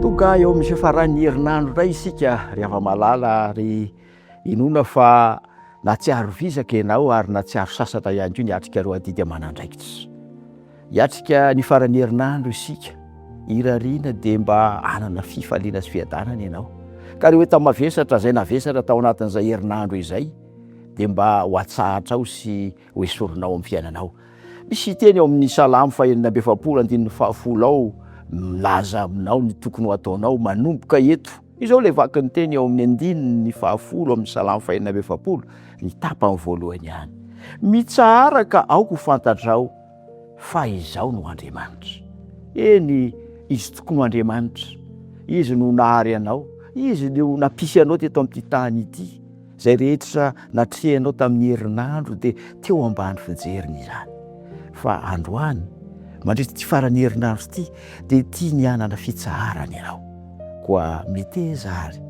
Tonga eo amin'ny fifaran'ny herinandro indray isika ry hava-malala ary inoana fa natsiaro vizaka ianao ary natsiaro sasatra ihany koa niatrika ireo adidy aman'andraikitra. Hiatrika ny faran'ny herinandro isika, irariana dia mba hanana fifaliana sy fiadanana ianao. Ka ireo entana mavesatra izay navesatra tao anatin'izay herinandro izay dia mba ho atsahatrao sy. Ho esorinao amin'ny fiainanao. Misy teny ao amin'ny Salamo fahenina amby efapolo andininy fahafolo ao milaza aminao ny tokony ho ataonao manomboka eto. Izao ilay vaky ny teny ao amin'ny andininy fahafolo amin'ny Salamo fahenina amby efapolo, ny tapany voalohany ihany, Mitsaharaka aho ho fantatrao fa Izaho no Andriamanitra. Eny, Izy tokoa no Andriamanitra. Izy no nahary anao. Izy no nampisy anao teto amin'ity tany ity. Izay rehetra natrehinao tamin'ny herinandro dia teo ambany fijeriny izany. Fa androany, mandritra ity faran'ny herinandro ity, dia tiany hanana fitsaharana ianao. Koa meteza àry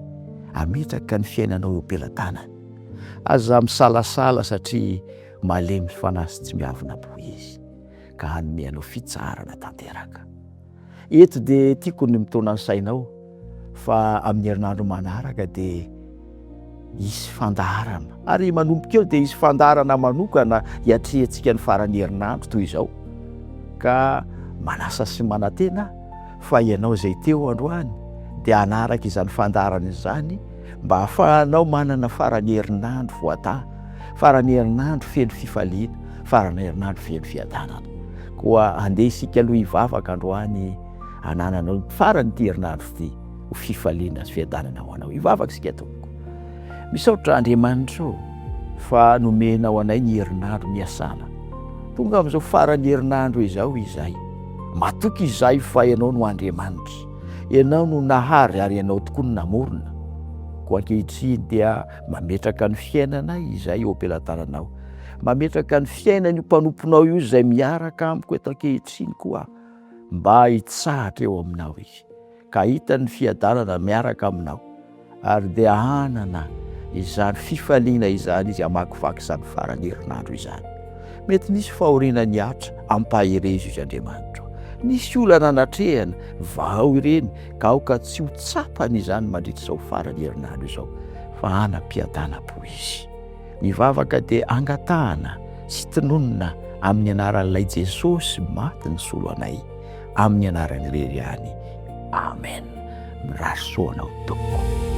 hametraka ny fiainanao eo am-pelatanany. Aza misalasala satria. Malemy fanahy sy tsy miavona boho izy, ka hanome anao fitsaharana tanteraka. Eto dia tiako ny mitaona ny sainao fa amin'ny herinandro manaraka dia hisy fandaharana, ary manomboka eo dia hisy fandaharana manokana hiatrehantsika ny faran'ny herinandro toy izao. Ka manasa sy manantena fa ianao izay teo androany dia hanaraka izany fandaharana izany mba hahafahanao manana faran'ny herinandro voataha. Faran'ny herinandro feno fifaliana, faran'ny herinandro feno fiadanana. Koa andeha isika aloha hivavaka androany hanananao ny faran'ity herinandro ity ho fifaliana sy fiadanana ho anao. Hivavaka isika tompoko. Misaotra Andriamanitra o fa nomenao anay ny herinandro niasana. Tonga amin'izao faran'ny herinandro izao izahay. Matoky izahay fa ianao no Andriamanitra. Ianao no nahary ary ianao tokoa no namorona. Koa ankehitriny dia Mametraka ny fiainana izay eo am-pelatananao. Mametraka ny fiainan'io mpanomponao io izay miaraka amiko eto ankehitriny koa mba hitsahatra eo aminao izy ka hita ny fiadanana miaraka aminao ary dia hanana izany fifaliana izany izy hamakivaky izany farany herinandro izany. Mety nisy fahoriana nihatra, ampaherezo izy Andriamanitro. Nisy olana natrehana, vahao ireny ka aoka tsy ho tsapany izany mandritra izao faran'ny herinandro izao fa hanam-piadanam-po izy. Ny vavaka dia angatahana sy tononina amin'ny anaran'ilay Jesosy maty nisolo anay, amin'ny anarany irery ihany. Amen. Mirary soa anao tompoko.